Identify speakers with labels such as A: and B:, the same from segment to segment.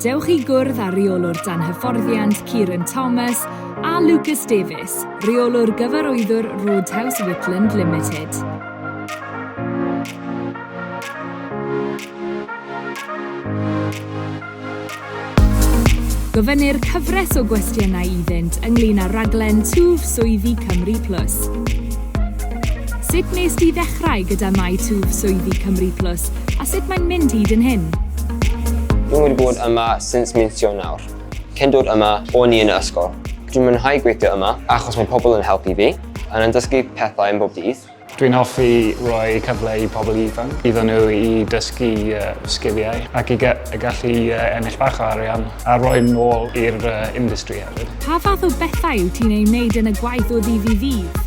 A: Dewch i gwrdd â Rheolwr Dan Hyfforddiant Kieran Thomas a Lucas Davies, Rheolwr Gyfarwyddwr Roadhouse Whitland Limited. Gofynnir cyfres o gwestiynau iddynt ynglyn â rhaglen Twf Swyddi Cymru Plus. Sut wnes di ddechrau gyda Mae Twf Swyddi Cymru Plus A sut mae'n mynd hyd yn hyn? Dwi
B: wedi bod yma since mis Ionawr. Cyn dod yma, o'n i yn y ysgol. Dwi'n mwynhau gweithio yma achos mae pobl yn helpu fi, a yn dysgu pethau yn bob dydd. Dwi'n hoffi
C: rhoi cyfle i pobl ifanc iddyn nhw i dysgu sgiliau ac i gallu ennill bach o arian a rhoi nôl i'r industry hefyd. Pa fath o bethau
A: wyt ti'n eu wneud yn y gwaith o ddydd i ddydd?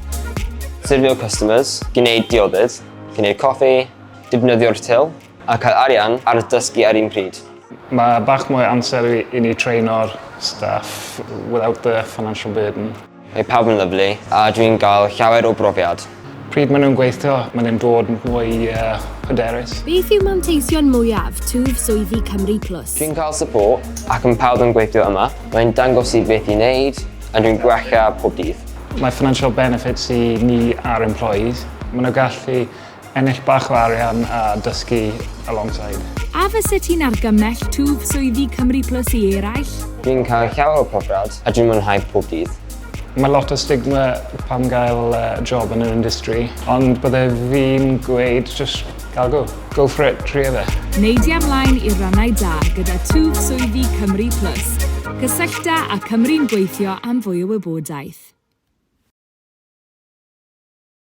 A: Syrfio
B: customers, gwneud diodydd, gwneud coffi, Defnyddio'r til a cael arian ar y dysgu ar un pryd. Mae bach mwy
C: o amser i ni traino'r staff without the financial burden. Mae pawb yn lyfli
B: a dwi'n gael llawer o brofiad. Pryd maen nhw'n
C: gweithio, maen nhw'n dod mwy hyderus. Beth yw manteision
A: mwyaf twf swyddi Cymru Plus? Dwi'n cael support
B: ac yn pawb yn gweithio yma. Mae'n dangos i beth i wneud a dwi'n gwella pob dydd. Mae financial
C: benefits i ni a'r employees. Maen nhw gallu Ennill bach o arian a dysgu alongside. A fyset ti'n
A: argymell twf swyddi Cymru Plus i eraill? Dwi'n cael llawer
B: o profiad a dwi'n mwynhau pob dydd. Mae lot o
C: stigma pam gael job yn yr industry ond bydde fi'n gweud jyst gael go. Go for it, tria fe. Neidia mlaen
A: i'r rannau da gyda twf swyddi Cymru Plus. Cysyllta â Cymru'n Gweithio am fwy o wybodaeth.